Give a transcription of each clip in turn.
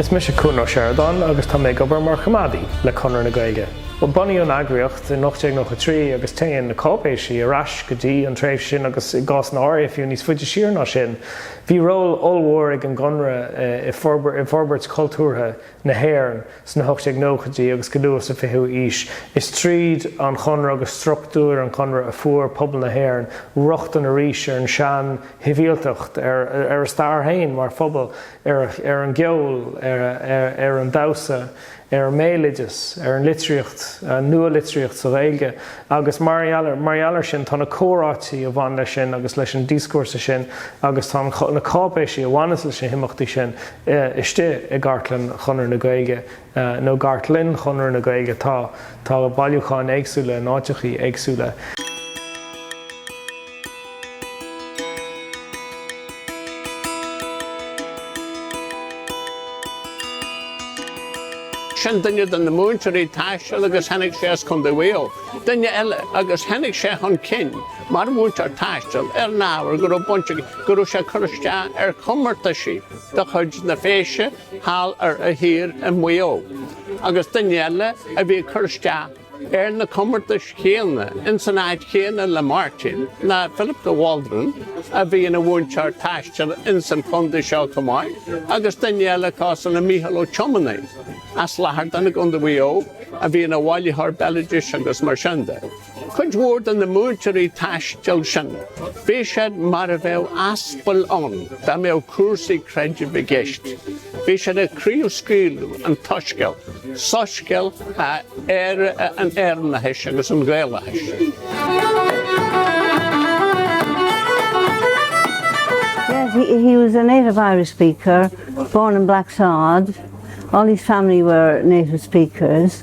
Is mise Cuan Ó Seireadáin agus tá mé ag obair mar Choimeádaí le Conradh na Gaeilge. Bunaíodh an eagraíocht in 1893 agus téann na cáipéisí ar ais go dtí an tréimhse sin agus i gcásanna áirithe fiú níos faide siar ná sin. Bhí ról ollmhór ag an gConradh i bhforbairt chultúrtha na hÉireann sna hocht déag nóchaidí agus go luath sa fichiú aois. Is tríd an Chonradh agus struchtúir an Chonradh a fuair pobal na hÉireann rochtain arís ar an sean-shibhialtacht, ar a stair féin mar phobal, ar an gceol, ar an damhsa, ar an mbéaloideas, ar an litríocht, an nua-litríocht sa Ghaeilge, agus mar gheall air sin tá na comhráití a bhain leis sin agus leis an dioscúrsa sin agus tá na cáipéisí a bhaineas leis na himeachtaí sin istigh i gcartlann Chonradh na Gaeilge, nó gcartlainn Chonradh na Gaeilge. Tá bailiúcháin éagsúla in áiteachaí éagsúla. Sin duine de na múinteoirí taistil agus tháinig sé as Condae Mhaigh Eo. Duine eile, agus tháinig sé chun cinn Mar a mhúinteoir taistil, ar an ábhar go raibh baint aige go raibh sé ag cur isteach ar chomórtaisí de chuid na Féise thall ar a thír i Maigh Eo, agus duine eile a bhí ag cur isteach ar na comórtais chéanna ins an áit chéanna le Máirtín ná Philip de Waldron a bhí ina mhúinteoir taistil ins an chondae seo chomh maith agus duine eile acusan ná Mícheál Ó Tiománaidhe as Lahardane i gCondae Mhaigh Eo a bhí ina bhailitheoir béaloidis agus mar sin de. Cuid mhór de na múinteoirí taistil sin, bhí siad mar a bheadh aspail ann dá mbeadh cúrsaí creidimh i gceist. Bhí siad ag craobhscaoileadh an tsoiscéil, soiscéal an Éireannachais agus an Ghaelachais. He was a native Irish speaker, born in Blacksod, all his family were native speakers.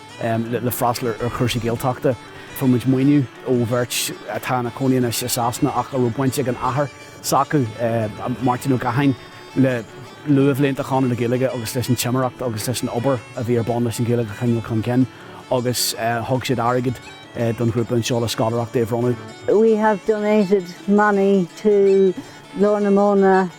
le freastal ar chúrsaí Gaeltachta. Fuair muid maoiniú ó bheirt atá ina cónaí anois i Sasana ach a raibh baint ag an athair s'acu, Máirtín Ó Catháin, le luathbhlianta Chonradh na Gaeilge agus leis an timireacht agus leis an obair a bhí ar bun leis an Ghaeilge a chur chun cinn agus thug siad airgead don ghrúpa anseo le scoláireachtaí a bhronnadh. We have donated money to Glór na Móna.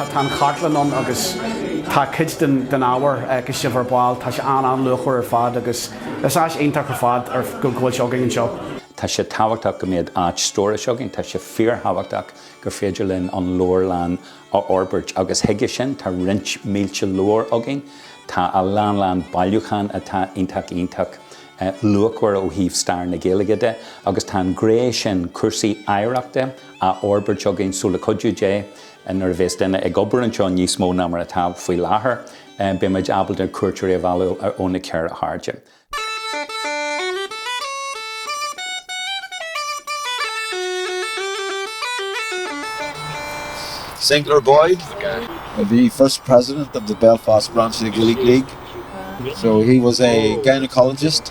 tá an chartlann ann agus tá cuid den ábhar a chonaic sibh ar ball. Tá sé an-an-luachmhar ar fad agus is áis iontach ar fad go bhfuil sé againn anseo. Tá sé tábhachtach go mbeadh áit stórais againn. Tá sé fíorthábhachtach gur féidir linn an leabharlann a fhorbairt agus chuige sin tá roinnt mílte leabhar againn. Tá a lán lán bailiúchán atá iontach iontach luachmhar ó thaobh stair na Gaeilge de agus tá an ghné sin cúrsaí oidhreachta á fhorbairt againn, so le cuidiú Dé, nuair a bhéas duine ag obair anseo níos mó ná mar atá faoi láthair, beimid ábalta cuairteoirí a mhealladh ó na ceithre hairde. St Clair Boyd, the first president of the Belfast branch of the Gaelic League, so he was a gynaecologist.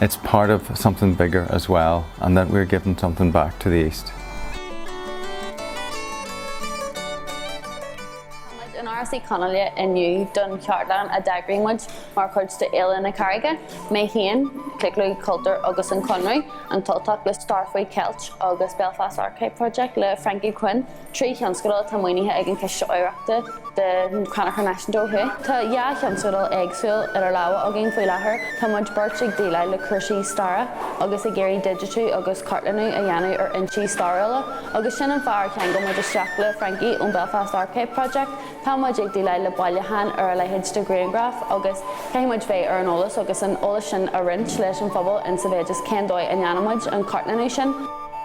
it's part of something bigger as well and that we're giving something back to the East. Táimid in Áras Uí Chonghaile inniu don cheardlann a d'eagraigh muid mar chuid de Fhéile na Carraige, mé féin, Claochlú Cultúir agus an Conradh, An tUltach le Stair faoi Cheilt agus Belfast Archive Project le Frankie Quinn. Trí thionscadal atá maoinithe ag an Chiste Oidhreachta de Chrannchur Náisiúnta ó thuaidh. Tá dhá thionscadal éagsúil idir lámha againn faoi láthair. Tá muid beirt ag déileáil le cúrsaí staire agus ag iarraidh digitiú agus cartlannú a dhéanamh ar fhoinsí stairiúla agus sin an fáth ar cheangail muid isteach le Frankie ón Belfast Archive Project. Tá muid ag déileáil le bailiúcháin ar a leithéid de ghrianghraif agus caithfidh muid bheith ar an eolas agus an eolas sin a roinnt leis an phobal ins a mhéid is cén dóigh a ndéanfaidh muid an cartlannú sin.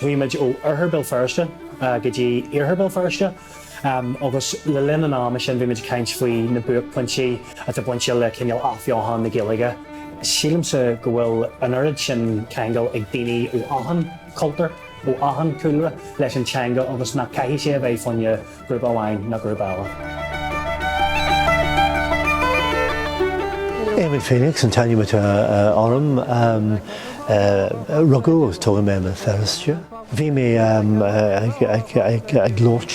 Chuaigh muid ó Oirthear Béal Feirste go dtí Iarthar Béal Feirste agus le linn an ama sin bhí muid ag caint faoi na buaicphointí atá bainte le cineál athbheochan na Gaeilge. Sílimse go bhfuil an oiread sin ceangal ag daoine ó achan chultúr, ó achan chúlra leis an teanga agus nach caithfidh sé a bheith faoi aon ghrúpa amháin ná grúpa eile. Éamon Phoenix an t-ainm atá orm. Rugadh agus tógadh mé i mBéal Feirste. Bhí mé ag labhairt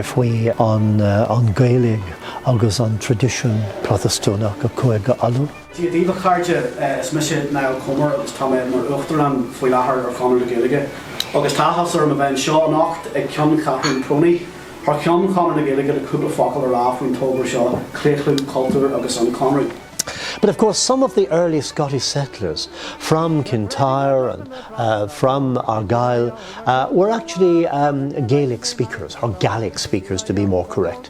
faoi an Ghaeilge agus an traidisiún Protastúnach i gCúige Uladh. Dia daoibh a chairde, is mise Niall Comer agus tá mé mar Uachtarán faoi láthair ar Chonradh na Gaeilge agus tá áthas orm a bheith anseo anocht ag ceanncheathrú PRONI thar ceann Chonradh na Gaeilge le cúpla focal a rá faoin togra seo Claochlú Cultúir agus an Conradh. But of course some of the early Scottish settlers from Kintyre and from Argyll were actually Gaelic speakers, or Gaelic speakers to be more correct.